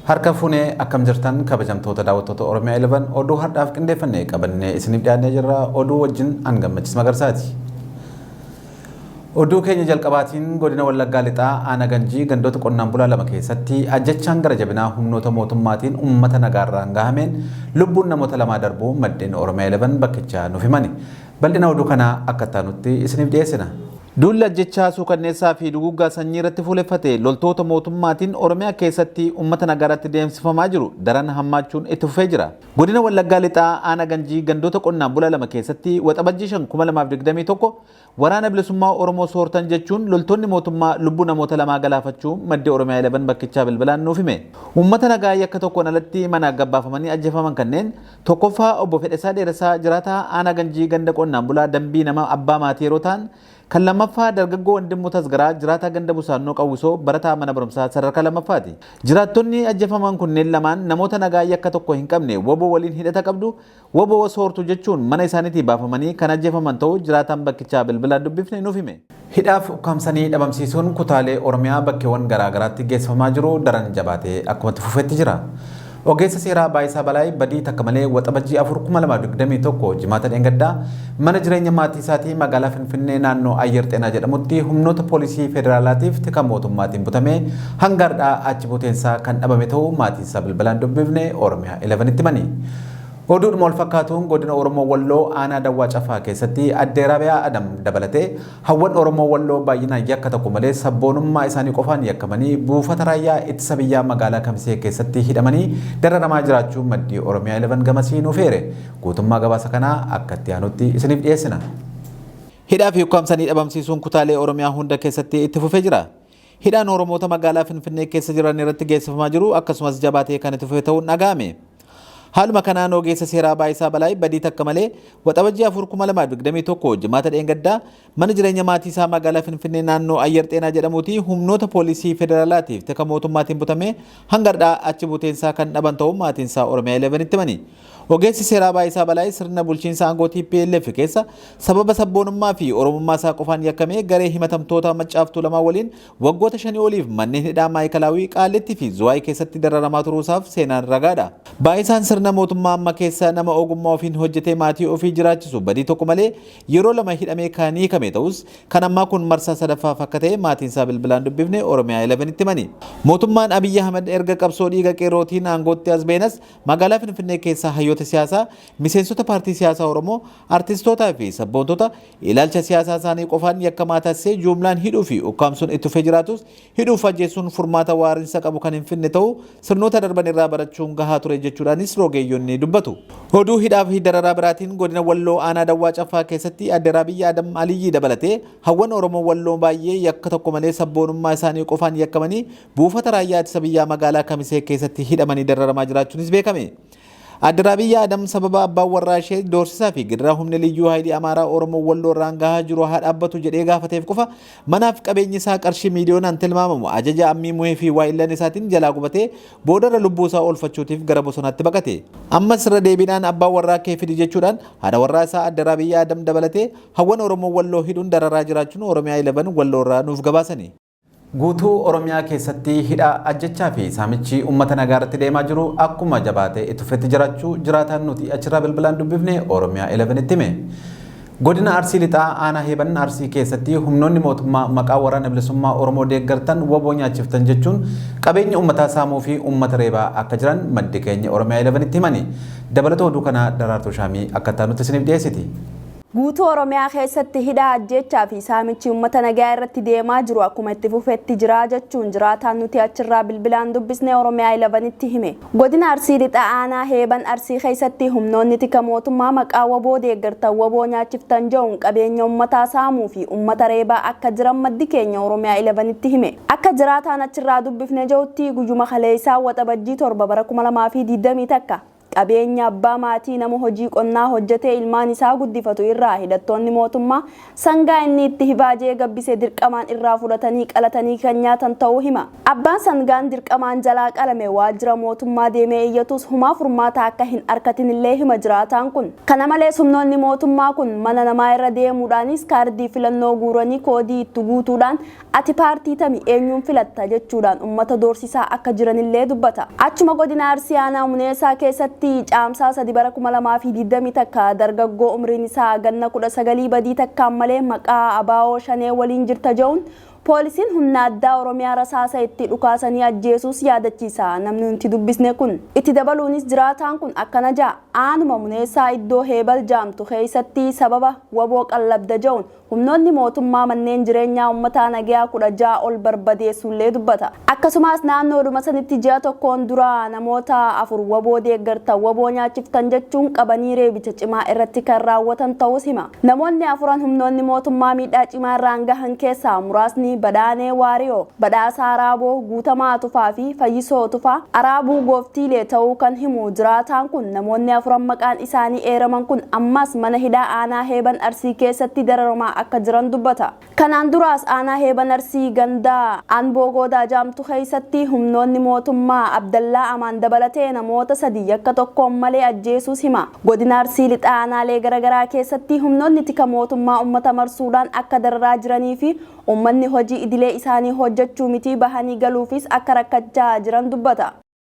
Harka fuunee akkam jirtan kabajamtoota daawwattoota Oromiyaa 11 oduu har'aaf qindeeffannee qabannee isiniif dhiyaannee jirra oduu wajjin an gammachiis magarsaati. Oduu keenya jalqabaatiin godina Wallaggaa Lixaa Aana Ganjii gandoota qonnaan bulaa lama keessatti ajjechaan gara jabinaa humnoota mootummaatiin uummata nagaarraan gahameen lubbuun namoota lamaa darbuu maddeen Oromiyaa 11 bakkichaa nuuf himani. Bal'ina oduu kanaa akka ittaanutti isiniif dhiyeessina. Duulli ajjechaa suukanneessaa fi duguuggaa sanyii irratti fuuleffate loltoota mootummaatiin Oromiyaa keessatti uummata nagaarratti deemsifamaa jiru daran hammaachuun itti fufee jira. Godina Wallaggaa Lixaa Aana Ganjii gandoota qonnaan bulaa lama keessatti Waxabajjii 5,2021 Waraana Bilisummaa Oromoo soortan jechuun loltoonni mootummaa lubbuu namoota lamaa galaafachuu maddi Oromia 11 bakkichaa bilbilaan nuuf hime. Uummata nagaa yakka tokkoon alatti manaa gabbaafamanii ajjeefaman kanneen tokkoffaa Obbo Fedhesaa Dheeressaa jiraataa Aanaa Ganjii ganda qonnaan bulaa Dambii nama abbaa maatii yeroo ta'an, kan lammaffaa dargaggoo Wandimmuu Tasgaraa jiraataa ganda Busaannoo Qawwisoo barataa mana barumsaa sadarkaa lammaffaati. Jiraattonni ajjeefaman kunneen lamaan namoota nagaa yakka tokko hin qabne wbo waliin hidhata qabdu, Wbo soortu jechuun mana isaaniitii baafamanii kan ajjeefaman ta'uu jiraataan bakkichaa bilbilaan dubbifne nuuf hime. Hidhaaf ukkaamsanii dhabamsiisuun kutaalee Oromiyaa bakkeewwan garaa garaatti geessifamaa jiru daran jabaatee akkuma itti fufetti jira. Ogeessa seeraa Baayisaa Balaay badii takka malee Waxabajjii 4/2021 Jimaata dheengaddaa mana jireenya maatii isaatii magaalaa Finfinnee naannoo Ayyer Xeenaa jedhamutti humnoota poolisii federaalaatiif tika mootummaatiin butamee hanga har'aa achi buuteen isaa kan dhabame ta'uu maatiin isaa bilbilaan dubbifne Oromiyaa 11tti himani. Oduudhuma wal fakkaatuun godina Oromoo Walloo aanaa Dawwaa Cafaa keessatti addee Raabiyaa Adam dabalatee hawwan Oromoo Walloo baay'inaan yakka tokko malee sabboonummaa isaanii qofaan yakkamanii buufata raayyaa ittisa biyyaa magaalaa Kamisee keessatti hidhamanii dararamaa jiraachuu maddii Oromiyaa 11 gamasii nuuf eere. Guutummaa gabaasa kanaa akka itti aanutti isiniif dhiyeessina. Hidhaa fi ukkaamsanii dhabamsiisuun kutaalee Oromiyaa hunda keessatti itti fufee jira. Hidhaan Oromoota magaalaa Finfinnee keessa jiran irratti geessifamaa jiru akkasumas jabaatee kan itti fufe ta'uun dhaga'ame. Haaluma kanaan ogeessa seeraa Baayisaa Balaay badii takka malee waxabajjii 4/2021 jimaata dheengaddaa mana jireenya maatii isaa magaalaa Finfinnee naannoo Ayyar Xeenaa jedhamuuti humnoota poolisii federaalaatiif tika mootummaatiin butamee hanga har'aa achi buuteen isaa kan dhaban ta'uu maatiin isaa Oromiyaa 11tti himani. Ogeessi seeraa Baayisaa Balaay sirna bulchiinsa aangoo tplf keessa sababa sabboonummaa fi Oromummaa isaa qofaan yakkamee garee himatamtoota Maccaaf Tuulamaa waliin waggoota shanii oliif manneen hidhaa Maa'ikalaawii, Qaallittii fi Zuwaay keessatti dararamaa turuu isaaf seenaan ragaa dha. Baayisaan sirna mootummaa amma keessa nama ogummaa ofiin hojjetee maatii ofii jiraachisu badii tokko malee yeroo lama hidhamee kan hiikame ta'us kan ammaa kun marsaa sadaffaaf akka ta'e maatiin isaa bilbilaan dubbifne Oromiyaa 11 tti himani. Mootummaan Abiyyi Ahimad erga qabsoo dhiiga qeerrootiin aangootti as ba'eenas Magaalaa Finfinnee keessa hayyoota siyaasaa, miseensota paartii siyaasaa Oromoo, artistootaa fi sabboontota ilaalcha siyaasaa isaanii qofaan yakkamaa taasisee juumlaan hidhuu fi ukkaamsuun itti fufee jiraatus hidhuu fi ajjeessuun furmaata waarinsa qabu kan hin finne ta'uu sirnoota darban irraa barachuun gahaa ture jechuudhaanis rogeeyyonni dubbatu. Oduu hidhaa fi dararaa biraatiin godina Walloo aanaa Dawwaa Caffaa keessatti Aadde Raabiyya Adam Aliyyii dabalatee hawwan Oromoo Walloo baay'ee yakka tokko malee sabboonummaa isaanii qofaan yakkamanii Buufata Raayyaa Ittisa Biyyaa magaalaa Kamisee keessatti hidhamanii dararamaa jiraachuunis beekame. Adde Raabiyyaa Adam sababa abbaan warraa ishee doorsisaa fi gidiraa humni liyyuu haayilii Amaaraa Oromoo Walloo irraan gahaa jiru haa dhaabbatu jedhee gaafateef qofa manaaf qabeenyi isaa qarshii miiliyoonaan tilmaamamu ajaja ammii muhee fi waa'illan isaatiin jalaa gubatee boodarra lubbuu isaa oolfachuutiif gara bosonaatti baqate. Ammas irra deebiidhaan abbaa warraa kee fidi jechuudhaan haadha warraa isaa Adde Raabiyyaa Adam dabalatee hawwan Oromoo Walloo hidhuun dararaa jiraachuun Oromiyaa 11 Walloo irraa nuuf gabaasani. Guutuu Oromiyaa keessatti hidhaa, ajjechaa fi saamichi uummata nagaa irratti deemaa jiru akkuma jabaatee itti fufetti jiraachuu jiraataan nuti achirraa bilbilaan dubbifne Oromiyaa 11tti hime. Godina Arsii Lixaa aanaa Heeban Arsii keessatti humnoonni mootummaa maqaa waraana bilisummaa Oromoo deeggartan waboo nyaachiftan jechuun qabeenya uummataa saamuu fi uummata reebaa akka jiran maddi keenya Oromiyaa 11tti himani. Dabalata oduu kanaa Daraartuu Shaamii akka itti aanutti isiniif dhiyeessiti. Guutuu Oromiyaa keessatti hidhaa, ajjeechaa fi saamichi uummata nagayaa irratti deemaa jiru akkuma itti fufetti jira jechuun jiraataan nuti achirraa bilbilaan dubbisne Oromiyaa 11tti hime. Godina Arsii Lixaa Aanaa Heeban Arsii keessatti humnoonni tika mootummaa maqaa wbo deeggartan wbo nyaachiftan ja'uun qabeenya uummataa saamuu fi uummata reebaa akka jiran maddi keenya Oromiyaa 11tti hime. Akka jiraataan achirraa dubbifne ja'utti guyyuma kaleessaa Waxabajjii 7 bara 2021 Qabeenya abbaa maatii nama hojii qonnaa hojjetee ilmaan isaa guddifatu irraa hidhattoonni mootummaa sangaa inni itti hivaajee gabbise dirqamaan irraa fudhatanii qalatanii kan nyaatan ta'uu hima. Abbaan sangaan dirqamaan jalaa qalame waajjira mootummaa deemee iyyatus humaa furmaata akka hin arkatin illee hima jiraataan kun. Kana malees humnoonni mootummaa kun mana namaa irra deemuudhaanis kaardii filannoo guuranii koodii itti guutuudhaan Ati paartii tami, eenyuun filatta? jechuudhaan ummata doorsisaa akka jiranillee dubbata. Achuma godina Arsii aanaa Muneesaa keessatti Caamsaa 3 bara 2020 takka dargaggoo umriin isaa ganna 19 badii takkaan malee maqaa abo Shanee waliin jirta je'uun poolisiin humna addaa Oromiyaa rasaasa itti dhukaasanii ajjeesuus yaadachiisa namni nuti dubbisne kun. Itti dabaluunis jiraataan kun akkana ja'a, Aanuma Muneessaa iddoo Heebal jaamtu keessatti sababa wbo qallabda je'uun Humnoonni mootummaa manneen jireenyaa ummataa nageyaa 16 ol barbadeessuullee dubbata. Akkasumaas naannoodhuma sanitti ji'a tokkoon dura namoota afur wbo deeggartan wbo nyaachiftan jechuun qabanii reebicha cimaa irratti kan raawwatan ta'uus hima. Namoonni afuran humnoonni mootummaa miidhaa cimaa irraan gahan keessaa muraasni Badhaanee Waariyoo, Badhaasaa Raaboo, Guutamaa Tufaa fi Fayyisoo Tufaa, Araabuu Gooftiilee ta'uu kan himu jiraataan kun namoonni afuran maqaan isaanii eeraman kun ammaas mana hidhaa aanaa Heeban Arsii keessatti dararamaa akka jiran dubbata. Kanaan duraas aanaa Heeban Arsii ganda Anboo Goodaa jaamtu keessatti humnoonni mootummaa Abdallaa Amaan dabalatee namoota sadii yakka tokkoon malee ajjeesuus hima. Godina Arsii Lixaa aanaalee garagaraa keessatti humnoonni tika mootummaa ummata marsuudhaan akka dararaa jiranii fi ummanni hojii idilee isaanii hojjachuu mitii bahanii galuufis akka rakkachaa jiran dubbata.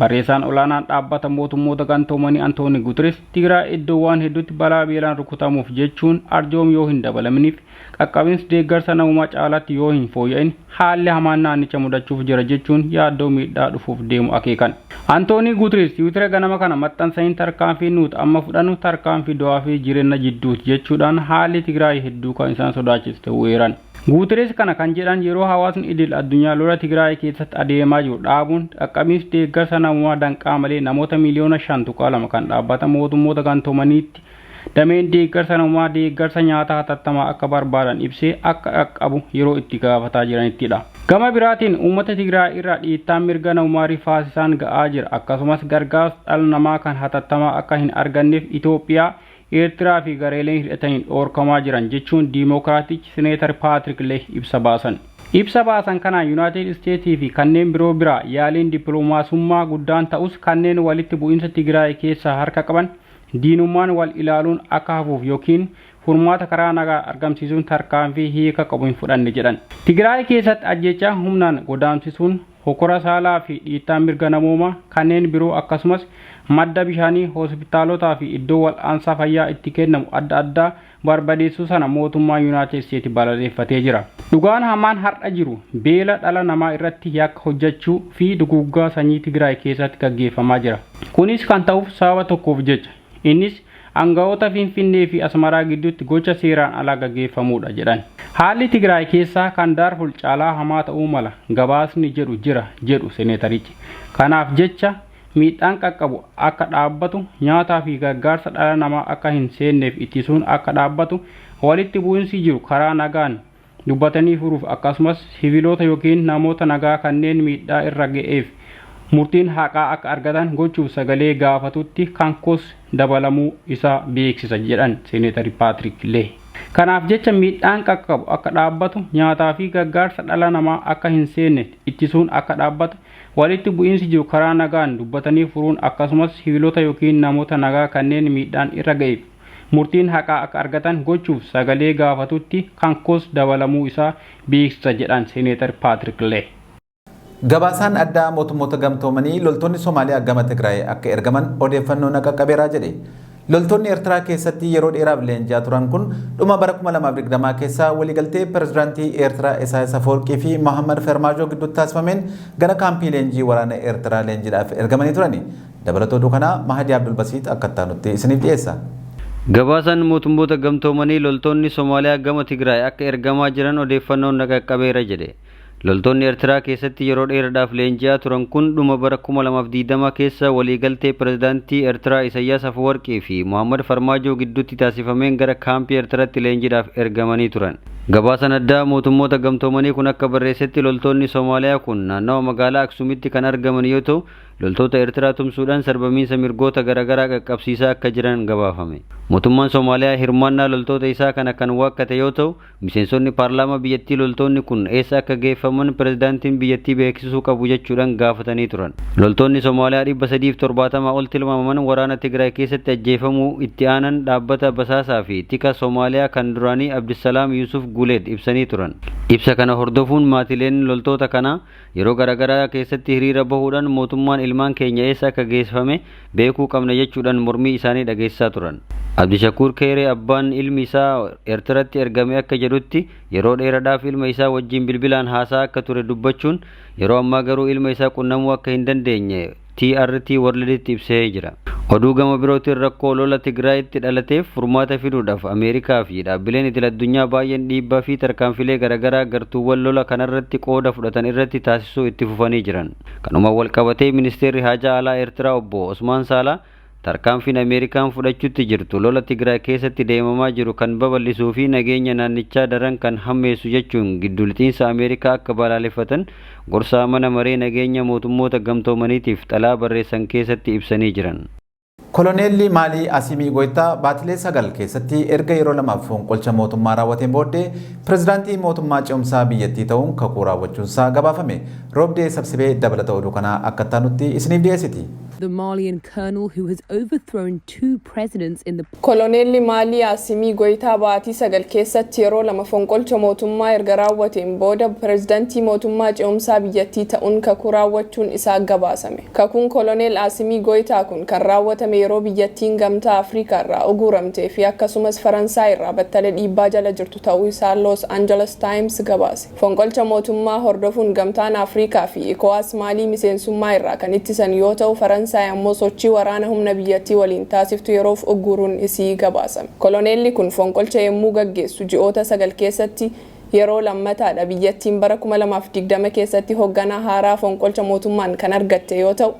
Barreessaan olaanaan dhaabbata mootummoota gantoomanii Antooni Gutiris Tigraay iddoowwaan hedduutti balaa beelaan rukutamuuf jechuun arjoom yoo hin dabalaminiif qaqqabins deeggarsa namumaa caalaatti yoo hin fooyya'in haalli hamaan naannicha mudachuuf jira jechuun yaaddoo miidhaa dhufuuf deemu akeekan. Antoonii Gutiris tiwitira ganama kana maxxansaniin tarkaanfii nuut amma fudhanu tarkaanfii du'aa fi jirenna jidduut jechuudhaan haalli Tigraay hedduu kan isaan sodaachisu ta'uu eeran. Guutereez kana kan jedhan yeroo hawaasni idil addunyaa lola Tigraay keessatti adeemaa jiru dhaabuun qaqqabinsi deeggarsa namoomaa danqaa malee namoota miiliyoona 5.2 kan Dhaabbata Mootummoota Gantoomaniitti dameen deeggarsa namoomaa deeggarsa nyaataa hatattamaa akka barbaadan ibsee akka qaqqabu yeroo itti gaafataa jiranittidha. Gama biraatiin uummata Tigraay irra dhiittaan mirga namoomaa rifaasisaan ga'aa jira akkasumas gargaarsa dhala namaa kan hatattamaa akka hin arganneef Itoophiyaa Eertiraa fi gareeleen hidhataniin dhoorkamaa jiran jechuun Diimookiraatichi Sineetar Paatrik Leeh ibsa baasan. Ibsa baasan kanaan Yunaayitid Isteetii fi kanneen biroo biraa yaaliin dippilomaasummaa guddaan ta'us kanneen walitti bu'iinsa Tigiraay keessaa harka qaban diinummaan wal ilaaluun akka hafuuf yookiin furmaata karaa nagaa argamsiisuun tarkaanfii hiika qabu hin fudhanne jedhan. Tigiraay keessatti ajjeechaa humnaan godaamsisuun, hokkora saalaa fi dhiittaa mirga namoomaa kanneen biroo akkasumas madda bishaanii hoosipitaalotaa fi iddoo wal'aansaa fayyaa itti kennamu adda addaa barbadeessuu sana mootummaan Yunaayitid Isteeti balaleeffatee jira. Dhugaan hamaan har'a jiru beela dhala namaa irratti yakka hojjachuu fi duguuggaa sanyii Tigraay keessatti gaggeeffamaa jira. Kunis kan ta'uuf sababa tokkoof jecha. Innis aanga'oota Finfinnee fi Asmaraa gidduutti gocha seeraan alaa gaggeeffamuudha jedhan. Haalli Tigraay keessaa kan Daarful caalaa hamaa ta'uu mala gabaasni jedhu jira jedhu Seneetarichi. Kanaaf jecha miidhaan qaqqabu akka dhaabbatu, nyaataa fi gargaarsa dhala namaa akka hin seenneef ittisuun akka dhaabbatu, walitti bu'insi jiru karaa nagaan dubbatanii furuuf akkasumas siviiloota ykn namoota nagaa kanneen miidhaa irra ga'eef murtiin haqaa akka argatan gochuuf sagalee gaafatutti Kankoos dabalamuu isaa beeksisa jedhan Seeneetari Paatrik Lee. Kanaaf jecha miidhaan qaqqabu akka dhaabbatu, nyaataa fi gargaarsa dhala namaa akka hin seenne ittisuun akka dhaabbatu, walitti bu'iinsi jiru karaa nagaan dubbatanii furuun akkasumas siviilota ykn namoota nagaa kanneen miidhaan irra ga'eef murtiin haqaa akka argatan gochuuf sagalee gaafatutti kan koos dabalamuu isaa beeksisa jedhan Seneetar Paatrik Lee. Gabaasaan addaa Mootummoota Gamtoomanii loltoonni Somaaliyaa gama Tigraay akka ergaman odeeffannoo na qaqqabeera jedhe. Loltoonni Ertiraa keessatti yeroo dheeraaf leenji'aa turan kun dhuma bara 2020 keessa waliigaltee pirezidaantii Eertiraa Isaayas Afawarqii fi Mohammad Fermaajoo gidduutti taasifameen gara kaampii leenjii waraana Eertiraa leenjiidhaaf ergamanii turani. Dabalata oduu kanaa Mahadii Abdulbasiix akka itti aanutti isiniif dhiyeessa. Gabaasaan Mootummoota Gamtoomanii loltoonni Somaaliyaa gama Tigraay akka ergamaa jiran odeeffannoon na qaqqabeera jedhe. Loltoonni Ertiraa keessatti yeroo dheeradhaaf leenji'aa turan kun dhuma bara kuma lamaa fi digdama keessa waliigaltee Pirezidaantii Ertiraa Isayyaas Afawarqii fi Mohaammad Farmaajoo gidduutti taasifameen gara kaampii Ertiratti leenjidhaaf ergamanii turan. Gabaasaan addaa Mootummoota Gamtoomanii kun akka barreessetti loltoonni Somaaliyaa kun naannawa magaalaa Aksuumitti kan argaman yoo ta'u, loltoota Ertiraa tumsuudhaan sarbamiinsa mirgoota garagaraa qaqqabsiisaa akka jiran gabaafame. Mootummaan Somaaliyaa hirmaannaa loltoota isaa kana kan waakkate yoo ta'u, miseensonni paarlaamaa biyyattii loltoonni kun eessa akka geeffaman pirezidaantiin biyyattii beeksisuu qabu jechuudhaan gaafatanii turan. Loltoonni Somaaliyaa 370 ol tilmaamaman waraana Tigraay keessatti ajjeefamuu itti aanan dhaabbata basaasaa fi tika Somaaliyaa kan duraanii Abdissalaam Yuusuf Guuleed ibsanii turan. Ibsa kana hordofuun maatileen loltoota kanaa Yeroo garaagaraa keessatti hiriira bahuudhaan mootummaan ilmaan keenya eessa akka geessifame beekuu qabna jechuudhaan mormii isaanii dhageessisaa turan. Abdishakuur Keeree abbaan ilmi isaa Ertiratti ergame akka jedhutti yeroo dheeradhaaf ilma isaa wajjin bilbilaan haasa'aa akka ture dubbachuun yeroo ammaa garuu ilma isaa qunnamuu akka hin dandeenye TRT World'tti ibsee jira. Oduu gama birootiin rakkoo lola Tigraayitti dhalateef furmaata fiduudhaaf Ameerikaa fi dhaabbileen idil-addunyaa baay'een dhiibbaa fi tarkaanfilee garagaraa gartuuwwan lola kanarratti qooda fudhatan irratti taasisuu itti fufanii jiran. Kanumaan walqabatee Ministeerri Haajaa Alaa Eertiraa Obbo Osmaan Saalaa Tarkaanfiin Ameerikaan fudhachuutti jirtu lola Tigraay keessatti deemamaa jiru kan babal'isuu fi nageenya naannichaa daran kan hammeessu jechuun giddu lixiinsa Ameerikaa akka balaaleffatan gorsaa Mana Maree Nageenya Mootummoota Gamtoomaniitiif xalaa barreessan keessatti ibsanii jiran. Koloneelli Maalii Asiimii Goytaa baatilee sagal keessatti erga yeroo lamaaf fonqolcha mootummaa raawwateen booddee pirezidaantii mootummaa ce'umsaa biyyattii ta'uun kakuu raawwachuunsaa gabaafame. Roobdee Sabsibee dabalata oduu kanaa akka itti aanutti isiniif dhiyeessiti. The Malian colonel who has overthrown two presidents in the. Koloneelli Maalii Asimii Goyitaa baatii sagal keessatti yeroo lama fonqolcha mootummaa erga raawwateen booda pirezidantii mootummaa ce'umsaa biyyattii ta'un kakuu raawwachuun isaa gabaasame. Kakuun koloneel Asimii Goyitaa kun kan raawwatame yeroo biyyattiin Gamtaa Afrikaa irraa uguuramtee fi akkasumas Faransaay irraa battala dhiibbaa jala jirtu ta'uu isaa Los Angeles Times gabaase. Fonqolcha mootummaa hordofuun Gamtaan Afrikaa fi Ecowas Maalii miseensummaa irraa kan ittisan yoo ta'u Faransaay ammoo sochii waraana humna biyyattii waliin taasiftu yeroof ugguuruun isii gabaasame. Koloneelli kun fonqolcha yemmuu gaggeessu ji'oota sagal keessatti yeroo lammataa dha. Biyyattiin bara 2020 keessatti hogganaa haaraa fonqolcha mootummaan kan argatte yoo ta'u,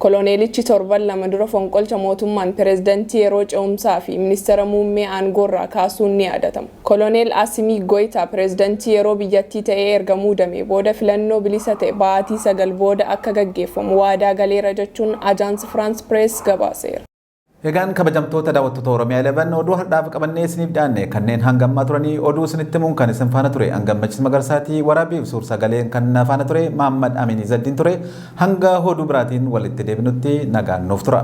Koloneelichi torban lama dura fonqolcha mootummaan pirezidantii yeroo ce'umsaa fi ministeera muummee aangoorraa kaasuun ni yaadatama. Koloneel Asimii Goyitaa pirezidantii yeroo biyyattii ta'ee erga muudamee booda filannoo bilisa ta'e baatii sagal booda akka gaggeeffamu waadaa galeera jechuun Ajaansi Firaans Pirees gabaaseera. Egaan kabajamtoota daawwattoota Oromiyaa 11 oduu hardhaaf qabannee isiniif dhiyaanne kanneen hanga ammaa turanii oduu isinitti himuun kan isin faana ture Angammachis Magarsaatii waraabiif suur sagaleen kan na faana ture Maammad Amiin Izaddiin ture hanga oduu biraatiin walitti deebinutti nagaan nuuf tura.